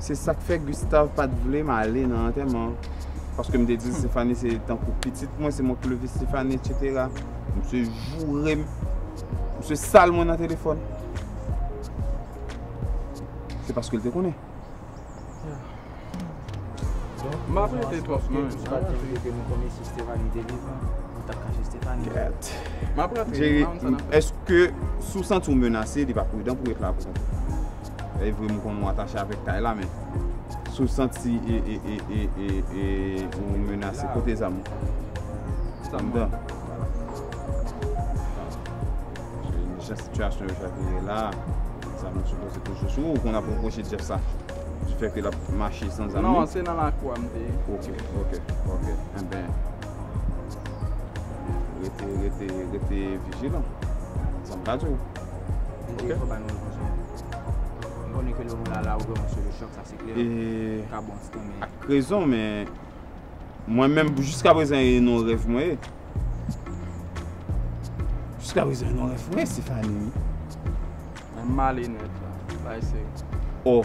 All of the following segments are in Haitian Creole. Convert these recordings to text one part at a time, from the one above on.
Se sak fè Gustave pat vlem ale nan antèman an paske m te di Stéphanie se tankou pitit mwen se mwen ki leve Stéphanie etc misye jourem misye sal mwen nan telefòn se paske l te konnen M ap rete twòp non Mwen pa t janm rete mwen konnen si Stéphanie te vivan mwen tap kache Stéphanie Gyèt M ap rantre Jerry èske si w santi w menase li pa pridan pou w ret la pou kontan. Evre m konnen w atache avèk kay la men si w santi ou menase pote zam ou. Sa m dan. Jan sitiyasyon yo sa vire la, zam ou sipoze toujou sou ou. Ou konn ap repwoche Jeff sa di fè ke l ap mache san zam li. Non, se nan lakou a m te ye. Ok, ok, ok. Enben, rete, rete, rete vijilan. Sa m ka di w. Ak rezon men Mwen menm jiska prezan e non rev mwen e Jiska prezan e non rev mwen e Stéphanie Mwen male net la Bay se Oh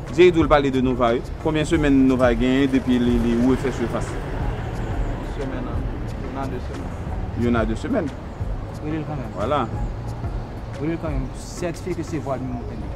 Jerry dwe pale de Nova wi. Konbyen semèn Nova genyen depi li refè surface li. Yon semèn an yon a 2 semèn. Yon a 2 semèn. Relel kanmenm. Wala. Relel kanmenm. Sètifye ke se vwal mimoun tande.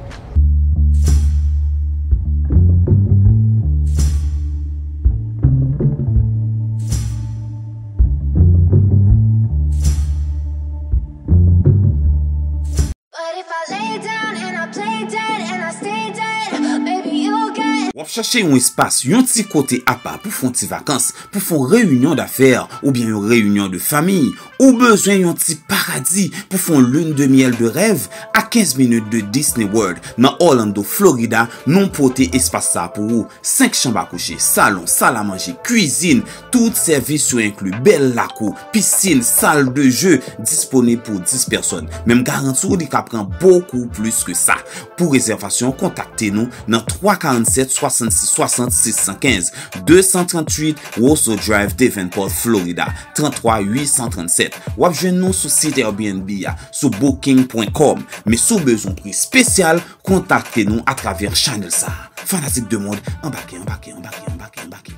Wap chache yon espas, yon ti kote apa pou fon ti vakans, pou fon reyinyon dafè oubyen yon reyinyon de fanmi? Ou bezwen yon ti paradi pou fon lune de miel de rèv? A 15 minit de Disney World nan Orlando, Florida, nou pote espas sa pou ou. 5 chanm a kouche, salon, sal a manje, kwizin, tout sèvis yo enkli, bèl lakou, Piscine, salle de jeu, disponib pou 10 pèsòn. Men m garanti w li ka pran bokou plis ke sa. Pou rezèvasyon, kontakte nou nan 347 66 60 615, 238 Roseau Drive, Davenport, Florida, 33 837. W ap jwenn nou sou sit Airbnb a, sou booking.com. Men si w bezwen pri spesyal, kontakte nou atravè chanèl sa. Fanatik 2 mond, anbake, anbake, anbake, anbake, anbake.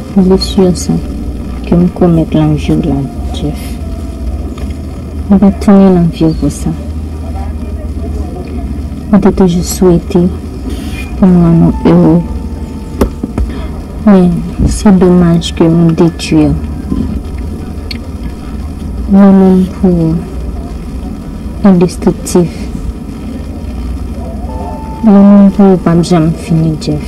Blessure sa kem komèt lan viw la Jeff mwen pat tounen lan viw pou sa mwen te toujou swete pou nou an nou heureux men se domaj ke nou detwir yon moun pou indestriktif yon moun pou ou pap janm fini Jeff.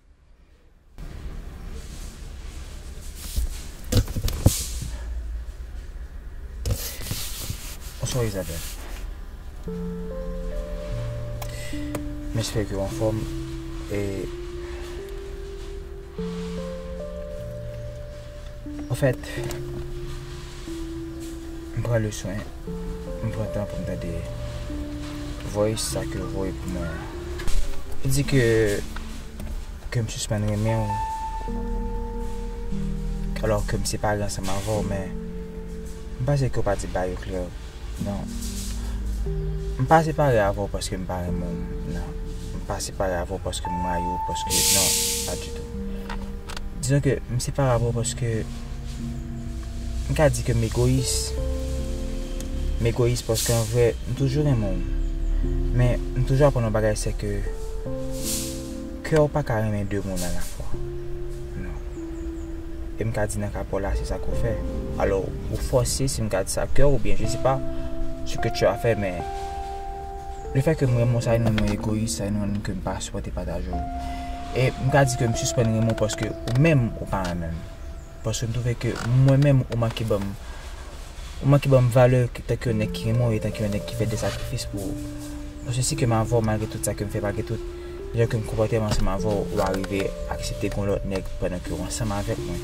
Bonswa Isabelle M espere ke w anfòm e An fèt, m pran le swen, m pran tan pou m tande voice sa ke ou voye pou mwen an. Ou di ke, ke m sispann renmen ou, alò ke m separe ansanm avè w men, m panse ke ou pa di bagay yo klè. Non. M pa separe avè w paske m pa renmen w nan. M pa separe avè w paske m rayi w paske non, pa ditou. Dizon ke m separe avè w paske m ka di ke m egoyis. M egoyis paske an vre m toujou renmen w. Men m toujou aprann yon bagay se ke. Kè w pa ka renmen de moun alafwa. Non. E m ka di nan ka Pòl la se sa ke w fè. Alò, ou fòse, si m ka di sa, kè w oubyen je se pa se ke tu a fè men le fè ke m renmen w sa vin rann mwen egoyis, sa vin rann ke m pa sipòte pataje w. E m ka di ke m sispann renmen w paske ou menm ou pa renmen m. Paske m twouve ke mwen menm ou manke ban m, ou manke ban m valè tanke yon nèg ki renmen w e tanke yon nèg ki fè de sakrifis pou ou. Paske si ke m avè w malgre tout sa ke m fè, malgre tout jan ke m konpòte m ansanm avè w, ou arive aksepte gon lòt nèg pandan ke w ansanm avèk mwen.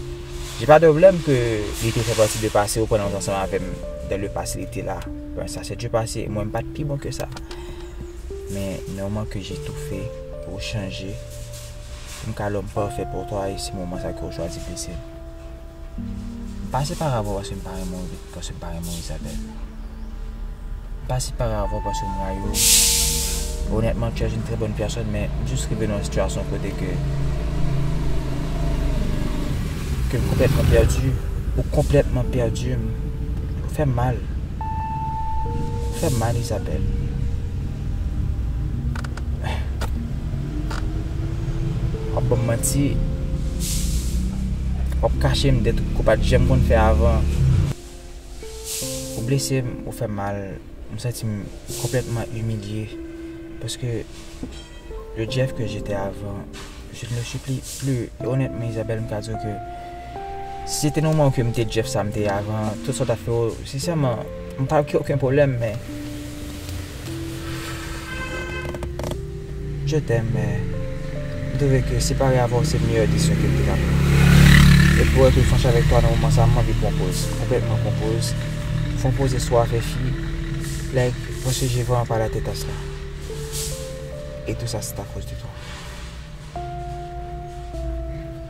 J'ai pas de problème ke li te fè pati de pase ou pandan ou te ansanm avè m dans le passé li te la. Bon sa se du passé, mwen m pa t pi bon ke sa. Men, nan moman ke j'ai tout fè pou w chanje. M ka lòm pafè pou twa e si moman sa ke w chwazi blese m. M pa separe avè w paske m pa renmen w epi paske m pa renmen w Isabelle. M pa separe avè w paske m rayi w. Onètman tu es une très bonne personne men m jis rive nan yon sitiyasyon kote ke ke m konplètman pèdi. Ou konplètman pèdi m. Ou fè m mal. Ou fè m mal Isabelle. Wap banm manti Wap kachem de tout kou pat janm konn fè avan Ou blesem ou fèm mal M santim konplètman imilye Paske Le Jeff ke jete avan Je ne le suis plus Onètman Isabelle m ka diw ke Si se te nan moman ke m te Jeff sa m te ye avan, tout sa w ta fè yo, sensèman, m pa gen oken pwoblèm, men. Je t'aime, men, m twouve ke separe avè w se meyè desizyon ke m te ka pran. E pou èt franch avèk twa nan moman sa, m anvi pran poz, konplètman pran poz, fon poze sou afè fi, like, mwen sonje van an pa late tas la. E tou sa se ta koz de twa.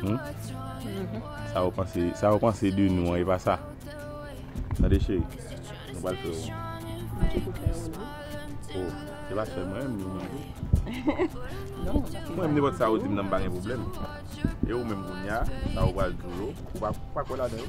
Hum? Sa ou panse, sa ou panse de nou an, e pa sa? Tande cheri, nou pral fè won. Mwen poko fè won non. Oh, se pa sèl mwen menm, ou menm tou. Non, mwen pa fè. Mwen nenpòt sa ou di m nan m pa gen pwoblèm. E ou menm kounya, sa ou pral di yo, ou pa kwè ladan yo?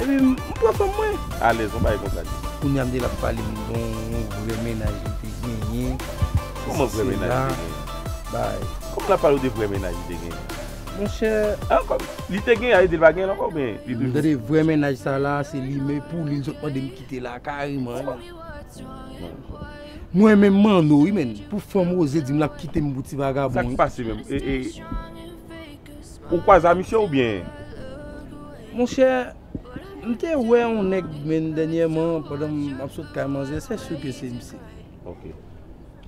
Epi m pran fanm mwen. Alèz yon bagay konsa di. Kounya m te la pale m de yon vrè mennaj li te genyen. Kòman vrè mennaj li te genyen? Bay. Kòman l ap pale w de vrè mennaj li te genyen? Monchè. An kòm li te genyen a vle di l pa genyen l ankò oubyen li toujou. Tande vrè mennaj sa la se li men pou li l sot mande m kite la kareman. M renmen Manno wi men pou fanm Rose di m l ap kite m pou ti vagabon. Sa k pase menm? Ou kwaze a misye ou byen? Monchè, m te wè yon nèg menn dènyèman pandan m ap sot kay manzè, se sur ke se misye. Ok.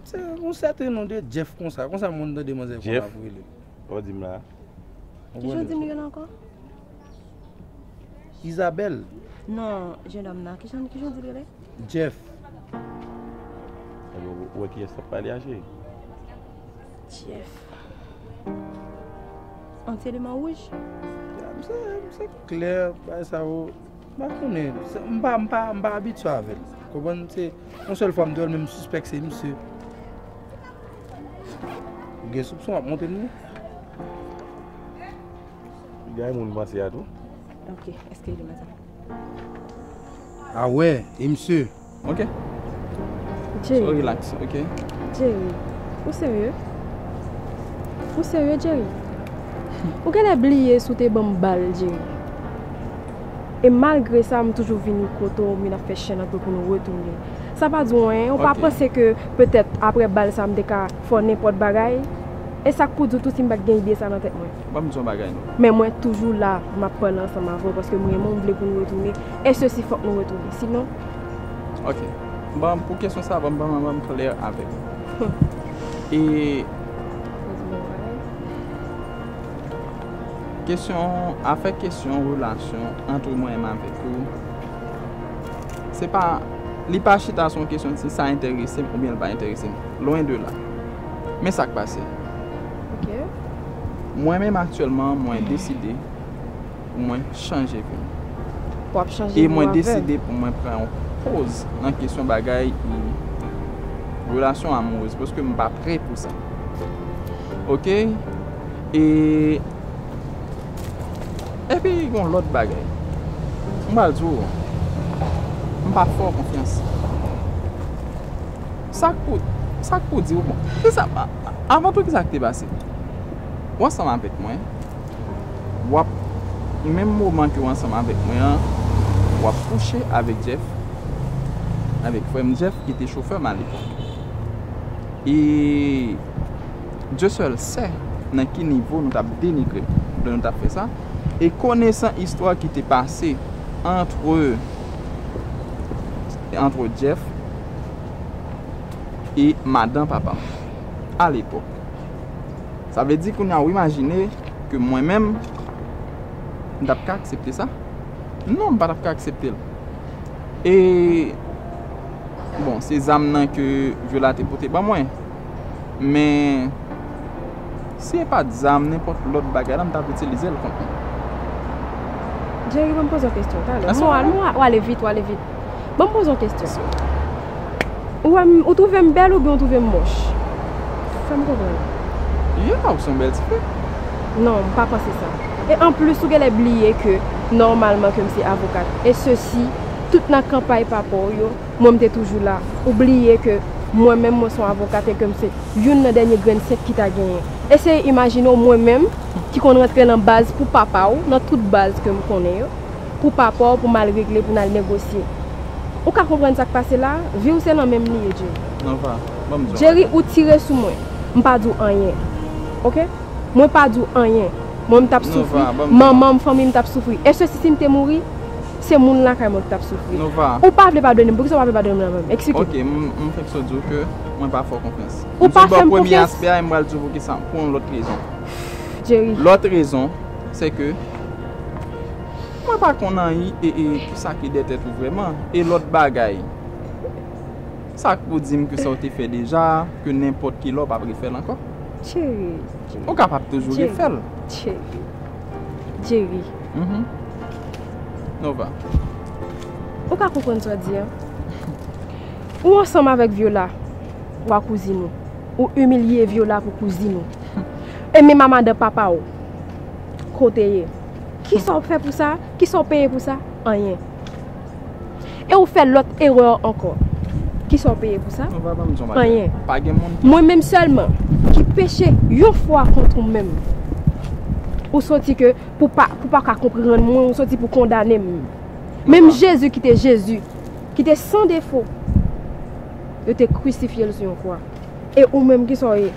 Se yon sèten non de Jeff konsa, konsa moun tande manzè konsa ap rele. Jeff? Ou di m la a? Ki jan w di m li rele ankò? Isabelle. Non, jennòm nan, ki jan w di l rele? Jeff. Ou wè kiyès k ap pale a cheri? Jeff. An se liman wouj? Ya, m se, m se klè, bay sa yo, m pa konnen. Se, m pa, m pa, m pa abitye avè l. Konprann? Se, yon sèl fwa m te wè l men m sispèk se misye. M gen soupson ap monte m wi. Li gen yon moun m panse a tou. Ok, eske li gen madanm? A wè, e misye? Ok. Jerry. So relax, ok. Jerry, ou serye? Ou serye, Jerry? Ou genlè bliye si w te ban m bal, Jerry. E malgre sa, m toujou vini kote w, m vin ap fè chen nan tou pou nou retounen. Sa pa di w anyen? Ou pa Ok. panse ke petèt apre bal sa a, m te ka fè w nenpòt bagay? E sa k pou di w tou si m pa t gen ide sa a nan tèt mwen? Ban m di w yon bagay non. Men mwen toujou la, m ap pale ansanm avè w paske m renmen w, m vle pou nou retounen. e sesi fok nou retounen sinon. Ok bon pou kesyon sa banm banm banm klè avèk ou e. Kesyon afè kesyon relasyon antre mwen menm avèk ou se pa li pa chita sou yon kesyon si sa enterese m oubyen li pa enterese m lwen de la men sak pase mwen menm aktyèlman mwen deside. pou mwen chanje vi m. E mwen deside pou mwen pran yon poz nan kesyon bagay relasyon amourez. Paske m pa pre pou sa. Ok? E pi yon lot bagay. M pral di w. M pa fè w konfyans. Sa k pou, sa k pou di w. Avan tou ki sa k te pase? Ou ansanm avèk mwen. wap menm moman ke w ansanm avèk mwen an wap kouche avèk Jeff avèk frè m Jeff ki te chofè m alepòk e Dye sèl sè nan ki nivo nou tap denigre m lè nou tap fè sa e konesan istwa ki te pase antre antre Jeff e madan papa m alepòk. Sa vle di kounya ou imajine ke mwen menm m tap ka aksepte sa? Non m pa tap ka aksepte l. E bon se zam nan ke Viola te pote ban mwen. Men si e pat zam nenpòt lòt bagay la m tap itilize l kont li. Jerry banm poze w kesyon talè. Ou ale vit ou ale vit. Ban m poze yon kestyon. Ou wè m, ou twouve m bèl oubyen ou twouve m mòch? Fè m konprann. Ya, ou se yon bèl ti fi. Non, m pa panse sa. E anplis ou genlè bliye ke nòmalman ke m se avokat. E sesi, tout nan kanpay papa w yo, mwen m te toujou la. Ou bliye ke mwen menm mwen se yon avokat e ke m se youn nan dènye grenn senk ki ta genyen. Eseye imajine w mwen menm ki konn rantre nan baz pou papa w, nan tout baz ke m konnen yo. pou papa w pou m al regle pou n al negosye Ou ka konprann sa k pase la Vi w se nan men m li ye Jerry Jerry ou tire sou mwen M pa di w anyen Ok Mwen pa di w anyen Mwen m t ap soufri Manman m fanmi m t ap soufri Èske si si m te mouri Se moun lakay mwen ki t ap soufri Ou pa vle padone m Poukisa w pa vle padone m nan men m Eksplike Ok m fenk sot di w ke mwen pa fè w konfyans Ou pa fè m konfyans M di w bò premye aspè a e m pral di w poukisa pou yon lòt rezon Jerry Lòt rezon se ke. Mwen pa konn anyi e e kisa ki dè tèt ou vrèman e lòt bagay sak pou dim ke sa ou te fè deja ke nenpòt kilè ou pap refèl ankò Jerry Jerry ou kapab toujou refèl Jerry Jerry Jerry Nova ou pa konprann sa wap di an ou ansanm avèk Viola ou a kouzin ou ou imilye Viola pou kouzin ou e menm a madan papaw. Kote ye? Kisa w fè pou sa? Kisa w peye pou sa? Anyen. E ou fè lòt erè ankò. Kisa w peye pou sa? Anyen. Mwen menm sèlman ki peche yon fwa kont ou menm. Ou soti ke pou w pa ka konprann mwen, ou soti pou w kondane m. Menm Jezi ki te Jezi, ki te san defo, yo te krisifye l sou yon kwa. E ou menm kisa w ye?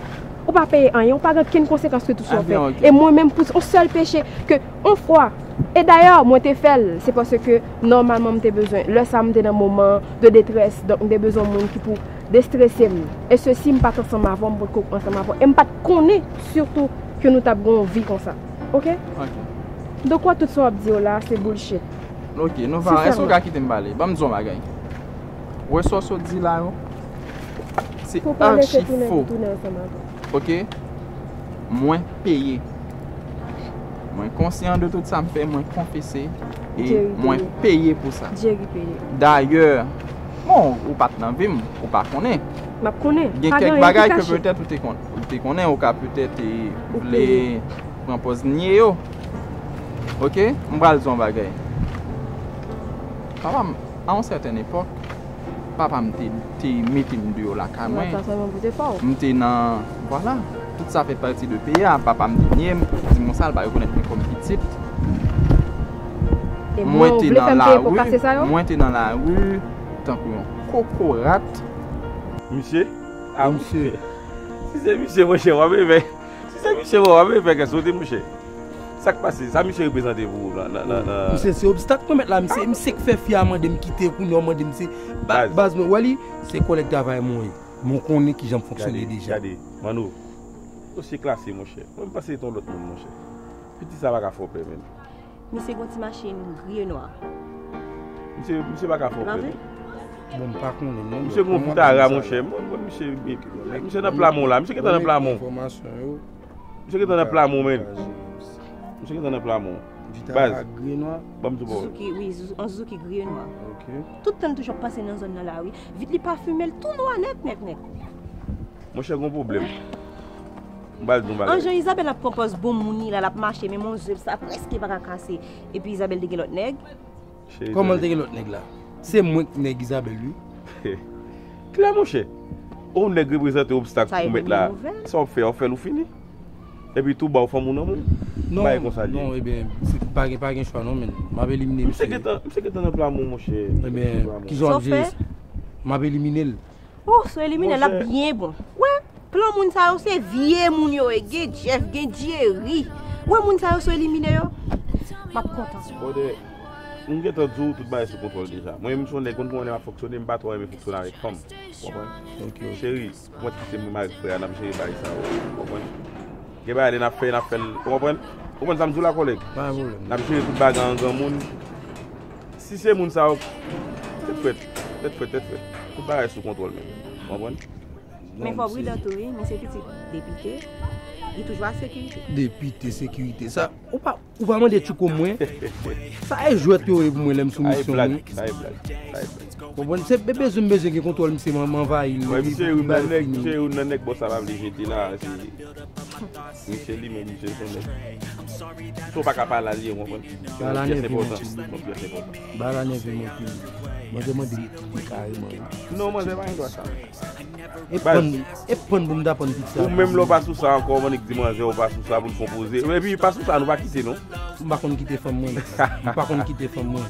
ou pa peye anyen, ou pa gen kenn konsekans ke tout sa ou fè. E mwen menm pou on sèl peche ke on fwa, e dayè mwen te fè l, se paske nòmalman m te bezwen, lè sa m te nan moman de detrès, donk m te bezwen yon moun ki pou destrese m. E se si m pa t ansanm avè w, m potko ansanm avè w. E m pa t konnen sitou ke nou t ap gen yon vi konsa. Ok? Ok. Donk ou wè tout sa w ap di yo la a se bullshit. Ok, Nova, èske ou ka kite m pale? Ban m di w yon bagay. Wè sa w sot di la yo? Se archi fo. Ok. Mwen peye. Mwen konsyan de tout sa m fè. Mwen konfese. E mwen peye pou sa. Jerry peye. Dayè. Bon, ou pat nan vim. Ou pa konnen. Map konnen. Gen kèk bagay ke petèt ou te konnen. Ou te konnen. Ou ka petèt te vle pran pòz nye yo. Ok. M pral di w yon bagay. Papa m, a yon sèten epòk. Papa m te mete m deyò lakay mwen. M te nan. Vwala. Tout sa fè pati de peyi a. Papa m te nye m. Di m konsa l pa rekonèt mwen kòm pitit. Mwen te nan lari. Mwen te nan lari tankou yon kokorat. Misye? A misye? Si se misye monchè w ap renmen. Se sa misye wè wap vle fè kè sote mouche. Sak pase? Sa misye reprezante pou ou nan nan nan. Misye se obstak mwen mèt la misye misye k fè fi a mandem kite kounya ou mandem se baz baz mwen wè li se kòlèg travay mwen ye mwen konnen kijan m fonksyone deja. Gade Manno dosye klase monchè. Mwen m panse se ton lòt moun monchè. Piti sa pa ka fè w pè menm. Misye gon ti machine gri nwa. Misye pa ka fè w pè non. Bon m pa konnen non. Misye gon pitara monchè. Misye nan plamon la. Misye gentan nan plamon. Misye gentan nan plamon men. Misye gentan nan plamon. Baz. Banm di bon. On Suzuki gri e nwa. Tout tan l toujou ap pase nan zòn nan la wi. Vit li pafime l tou nwa nèt nèt nèt. Monchè gon pwoblèm. An jan Isabelle ap pran pòz bon moun li la lap mache men mon zyev sa preske paka kase epi Isabelle te gen lòt nèg. Kòman l te gen lòt nèg la? Se mwen k nèg Isabelle wi. Klè monchè, ou nèg reprezante obstak pou mèt la sa wap fè a ou fèl ou fini epi tou baw fanm ou nan moun bagay konsa li ye. Non ebyen pa gen chwa non menn map elimine misye. Misye gentan nan plan mwen monchè. Ebyen kisa wap jere sa? Map elimine l. Oh sou elimine lap byen bon. Wè plan moun sa yo se vye moun yo ye gen Jeff gen Jerry wè moun sa yo sou elimine yo map kontan. Brother m gentan di w tout bagay sou kontwòl deja mwen menm se yon nèg konn kòman nèg ap fonksyone m pa twò renmen fonksyone avèk fanm ou konprann cheri mwen t kite m menm avèk frè a nap jere bagay sa yo ou konprann gen bagay lè nap fè nap fè l ou konprann ou konprann sa m di w la kòlèg nap jere tout bagay an granmoun. Si se moun sa yo, tèt frèt, tèt frèt, tèt frèt. Tout bagay sou kontwòl menm. Ou konprann? Men fò pridan tou wi, misye pitit depite, li toujou ak sekirite. Depite, sekirite, sa, ou pa, ou pa mande tchouko mwen, sa e jwèt yo ye pou mwen lè m sou misyon mwen. Sa e blag, sa e blag, sa e blag. Ou konprann? Se be bezwen m bezwen gen kontwòl misye m anvayi l. Misye youn nan nèg, misye youn nan nèg bò sa pa vle jete la, se. Misye limen misye son nèg Saw paka pa lal ye ou konprann Se yon pyès enpòtan Yon pyès enpòtan Ba la nève m anpil Manzè mande m kite kareman Non manzè pa gen dwa sa Baz E pann pou m ta pann pizza Ou menm lè w pa sou sa ankò ou annik di manzè ou pa sou sa pou l konpoze Epi pa sou sa nou pa kite non M pa konn kite fanm mwen M pa konn kite fanm mwen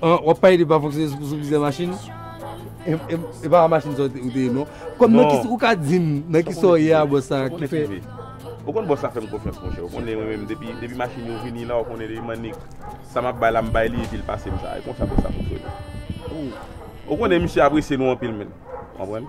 An wap pale de pa fonksyone sou plizyè machin? E pa machin sa ou te ye non. Kòm nan ki ou ka dim nan ki sa ou ye a bòs sa ki fè. Ou konn bòs sa fèm konfyans monchè. Ou konnen mwen menm depi depi machin yo vini la ou konnen depi m'annik sa map bay la m bay li epi l pase m sa. E konsa bòs sa fonksyone. Ou konnen misye apresye nou anpil menn. Ou konprann?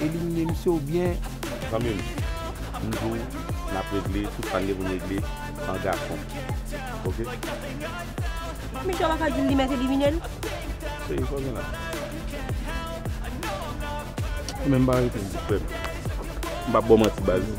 Elimine misye ou byen. Zanmi m toujou nap regle tout sa n gen pou n regle an gason ok. Misye wap ka dil li met elimine l. Cheri sa w gen la. Ou menm pa rete m di frè m. M pap baw manti baz.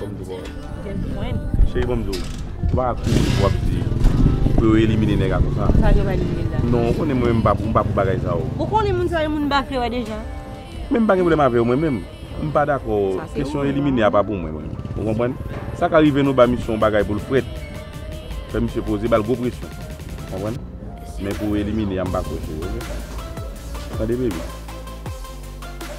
Bon m di bon. Gen pwen. Cheri bon m di w. Ou pa ka kouri pou w ap di pou yo elimine nèg a konsa. Sa yo pa elimine l la. Non ou konnen mwen m pa pou bagay sa yo. Ou konnen moun sa yo moun m pa vle wè deja. Men m pa gen pwoblèm avè yo mwen menm. M pa dakò. Sa se ou menm. Kesyon elimine a pa pou mwen menm. Ou konprann? Sa ka rive nou ba misye yon bagay pou l frèt. Fè misye poze ba l gwo presyon. Ou konprann? Men pou elimine a m pa kwè se yo. Tande baby.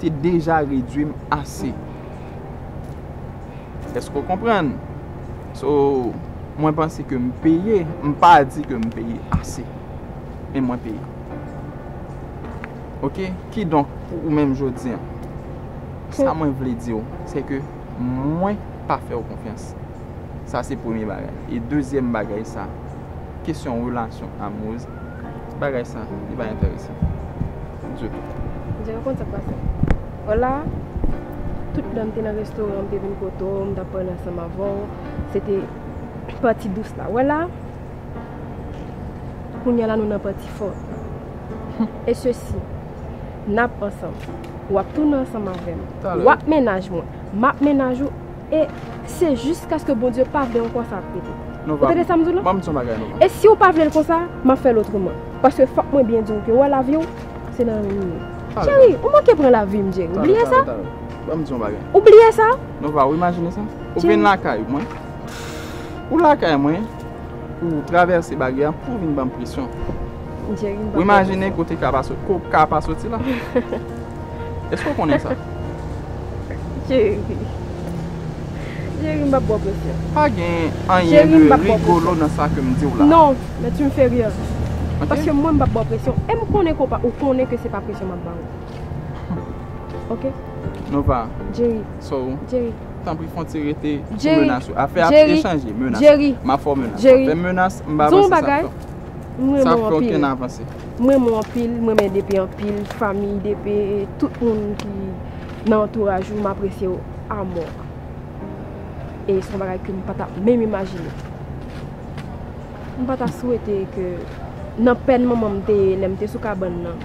te deja redwi m ase. Eske w konprann? So, mwen panse ke m peye, m pa di ke m peye ase. Men mwen peye. Ok? Kidonk, pou ou menm jodi an, sa mwen vle di w, se ke mwen pa fè w konfyans. Sa se premye bagay. E dezyèm bagay sa, kesyon relasyon amoureuse. Bagay sa li pa enteresan ditou. Jere konn sak pase. Hola Tout lèm te nan restoran m te vin kote w m tap pale ansanm avè w se te pati dous la wè la Kounya la nou nan pati fò E se si Nap ansanm Wap tounen ansanm avè m Wap mennaj mwen Map mennaj ou E se jiskaske Bondye pa vle ankò sa ap rete. Ou tande sa m di w la? E si ou pa vle l konsa, m ap fè l otreman. Paske fòk mwen byen di w ke wè lavi w, se nan men m li ye. Jerry, ou manke pran lavi m Jerry. Ou bliye sa? Ou bliye sa? Nova, ou imajine sa? Ou vin lakay mwen. Ou lakay mwen. pou ou travèse baryè an pou vin banm presyon. Ou imajine kote ka pa soti, kote ka pa soti la? Eske ou konnen sa? Jerry. Jerry m pap baw presyon. Pa gen anyen de rigolo nan sa ke m diw la. Non, men tu me fais rire. Paske mwen m pap baw presyon e m konnen ke ou konnen ke se pa presyon map baw. Ok. Nova. Jerry. So. Jerry. Tanpri fon ti rete sou menas yo. Afè a pye chanje menas. Ma fè w menas. Wap fè menas m pa vanse sa fè. Sa fè w ken avanse. M renmen w anpil, m renmen DP anpil, fami DP, tout moun ki nan antouraj ou m apresye w amò. E son bagay ke m pa ta menm imajine. M pa ta swete ke nan pèn manman m te ye lè m te sou kabann nan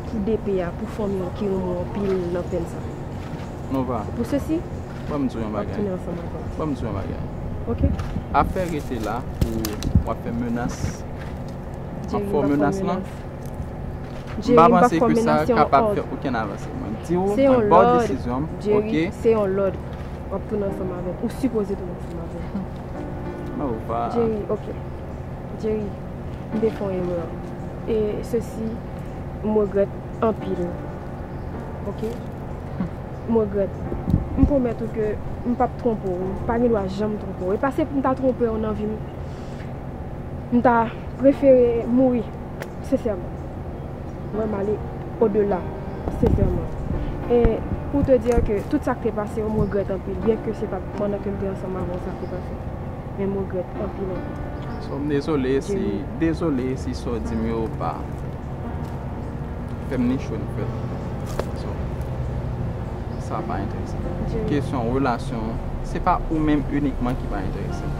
pou DP a, pou fanmi w ki renmen w anpil nan pèn sa. Nova. Pou sesi. Ban m di w yon bagay. Map tounen ansanm ak ou. Ban m di w yon bagay. Ok. Afè rete la pou w ap fè menas. Jerry m pa fè menas. Jerry m pa fè menas. M pa panse ke sa kapab fè okenn avanse. Mwen di w. Se yon lòd. Jerry se yon lòd. Wap tounen ansanm avèm. Ou sipoze tounen ansanm avèm. Nova. Jerry ok. Jerry m te fon erè. E sesi m regrèt anpil. Ok. M regrèt. M pwomèt ou ke m pap twonpe w. M pa gen dwa janm twonpe w. E pase pou m ta twonpe w nan vi m, m ta prefere mouri. Sensèman. Mwen m ale odela. Sensèman. E pou te di ke tout sa k te pase yo m regrèt anpil. Byen ke se pa t pandan ke m te ansanm avè w sa te pase. Men m regrèt anpil anpil. Jeremi. M dezole si sa w di m yo pa. Fè m ni cho ni frèt. So, sa pa enterese m. Kesyon relasyon, se pa ou menm inikman ki pa enterese m.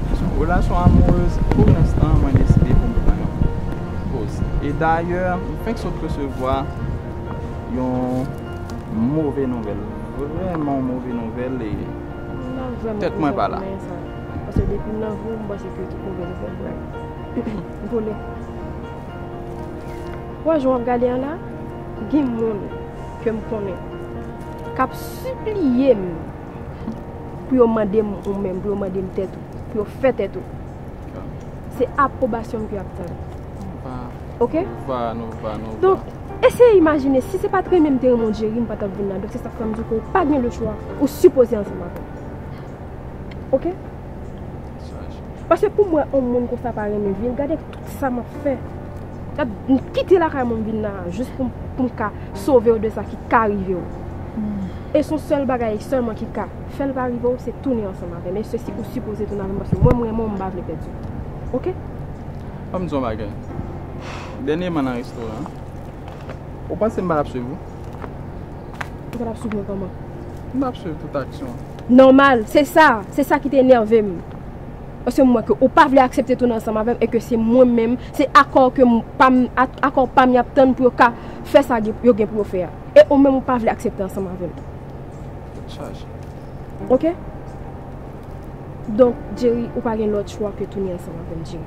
Kesyon relasyon amourez, pou lenstan mwen deside pou m pran yon poz. E dayè, m fenk sot resevwa yon move nouvèl. Vreman yon move nouvèl e tèt mwen pa la. Pase depi m nan vi w, m panse ke tout move nouvèl vre. Gole. Wè jan wap gade an la, gen moun kem konnen kap sipliyem pou yo mandem ou menm, pou yo mandem tèt ou, pou yo fè tèt ou. Se aprobasyonm ke yap tann. Ok? Donk, eseye imajine si se pat renmenm te renmen w Jerry m pa tap vin la. Donk se sak fèm di ke ou pa gen le chwa, ou sipoze ansanm avèm. Ok? Pase poum wè on moun konsa pa renmen vil gade tout sa map fè gad m kite lakay mwen m vin la jis poum ka sovew de sa ki ka rivew e son sèl bagay sèlman ki ka fèl pa rivew se tounen ansanm avèm e sesi ou sipoze tounen avèm paske mwen m renmenw m pa vle pèdiw ok. Fòm diw yon bagay dènyeman nan restoran an ou panse m pa tap swiv ou. Ou pa tap swiv mwen kòman? M ap swiv tout aksyon w. Nòmal, se sa, se sa ki te enève m. Paske m wè ke ou pa vle aksepte tounen ansanm avè m e ke se mwen menm, se akò ke m pa m, akò pa m y ap tann pou yo ka fè sa yo gen pou yo fè a. E ou menm ou pa vle aksepte ansanm avè m. Tèt chaje. Ok. Donk, Jerry, ou pa gen lòt chwa ke tounen ansanm avè m, Jerry.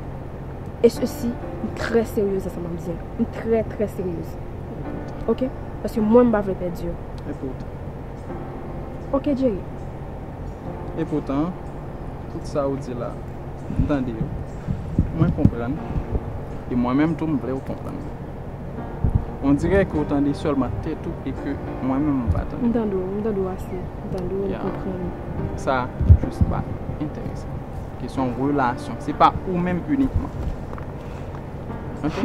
E sesi, m trè seryez nan sa m ap di an. M trè, trè seryez. Ok paske mwen m pa vle pèdi yo. E poutan. Ok Jerry. E poutan tout sa ou di la m tande yo mwen konprann e mwen menm tou m vle ou konprann mwen. On dirè ke ou tande sèlman tèt ou e ke mwen menm m pa tande. M tande ou, m tande ou ase. M tande ou, m konprann ou. Sa jis pa enterese m. Ke son relasyon. Se pa ou menm inikman. Ok.